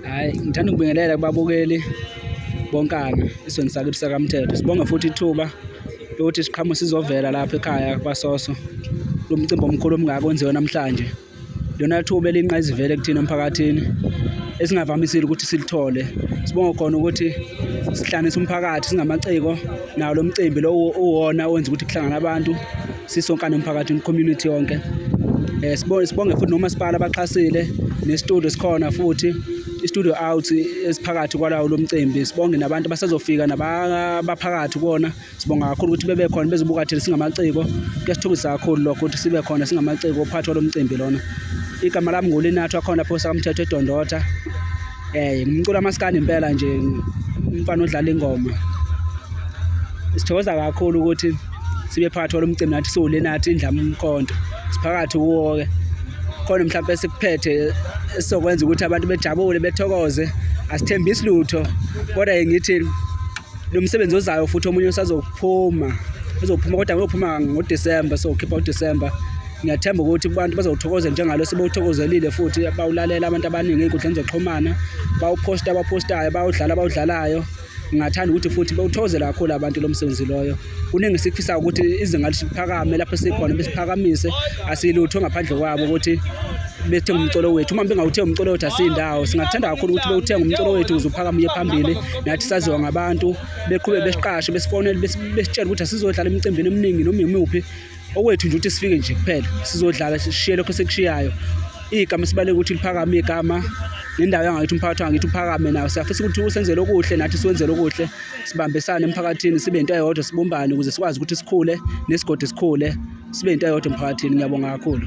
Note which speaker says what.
Speaker 1: Hayi ngithanda ukubingelela kubabukeli bonkana isweni sakithi sakamthetho. Sibonge futhi ithuba lokuthi siqhamuke sizovela lapha ekhaya kwaSoso lo mcimbi omkhulu omngaka onziwe namhlanje. Lona thuba elinqayizivele kuthina emphakathini esingavamisile ukuthi silithole. Sibonge khona ukuthi sihlanganisa umphakathi singamaciko nawo lo mcimbi lowo uwona owenza ukuthi kuhlangane abantu sisonkana umphakathi community yonke eh sibonge sibonge futhi nomasipala abaxhasile nestudio sikhona futhi istudio out esiphakathi kwalawo lomcimbi sibonge nabantu basazofika nabaphakathi kona sibonga kakhulu ukuthi bebe khona bezobuka thina singamaciko kuyasithukisa kakhulu lokho ukuthi sibe khona singamaciko ophathwa lomcimbi lona igama lami ngulinathu akhona phosa kamthetho edondotha Eh ngumculo amaskandi impela nje umfana odlala ingoma. Sithokoza kakhulu ukuthi sibe phakathi kwalomcimbi nathi siwule nathi indlama umkhonto. Siphakathi kuwo ke. Khona mhlawumbe sikuphethe esizokwenza ukuthi abantu bejabule bethokoze. Asithembisi lutho kodwa ngithi lo msebenzi ozayo futhi omunye usazophuma uzophuma kodwa uyophuma ngoDecember so khipha uDecember ngiyathemba ukuthi abantu bazowuthokoza njengalo sebewuthokozelile futhi bawulalela abantu abaningi ey'nkundleni zokuxhumana bawuphosta abaphostayo bawudlala abawudlalayo ngingathanda ukuthi futhi bewuthokozele kakhulu abantu lo msebenzi loyo kuningi esikufisayo ukuthi izinga liphakame lapho sikhona besiphakamise asilutho ngaphandle kwabo ukuthi bethenga umcolo wethu uma bengawuthenga umcolo wethu asindawo singathanda kakhulu ukuthi bewuthenga umcolo wethu ukuze uphakame uye phambili nathi saziwa ngabantu beqhube besiqashe besifonele besitshela ukuthi asizodlala emicimbini eminingi noma imuphi okwethu nje ukuthi sifike nje kuphela sizodlala sishiye lokho sekushiyayo igama esibaleke ukuthi liphakame igama nendawo yangakithi umphakathi wangakithi uphakame nawo siyafisa ukuthi usenzele okuhle nathi siwenzele okuhle sibambisane emphakathini sibe into eyodwa sibumbane ukuze sikwazi ukuthi sikhule nesigodi sikhule sibe into eyodwa emphakathini ngiyabonga kakhulu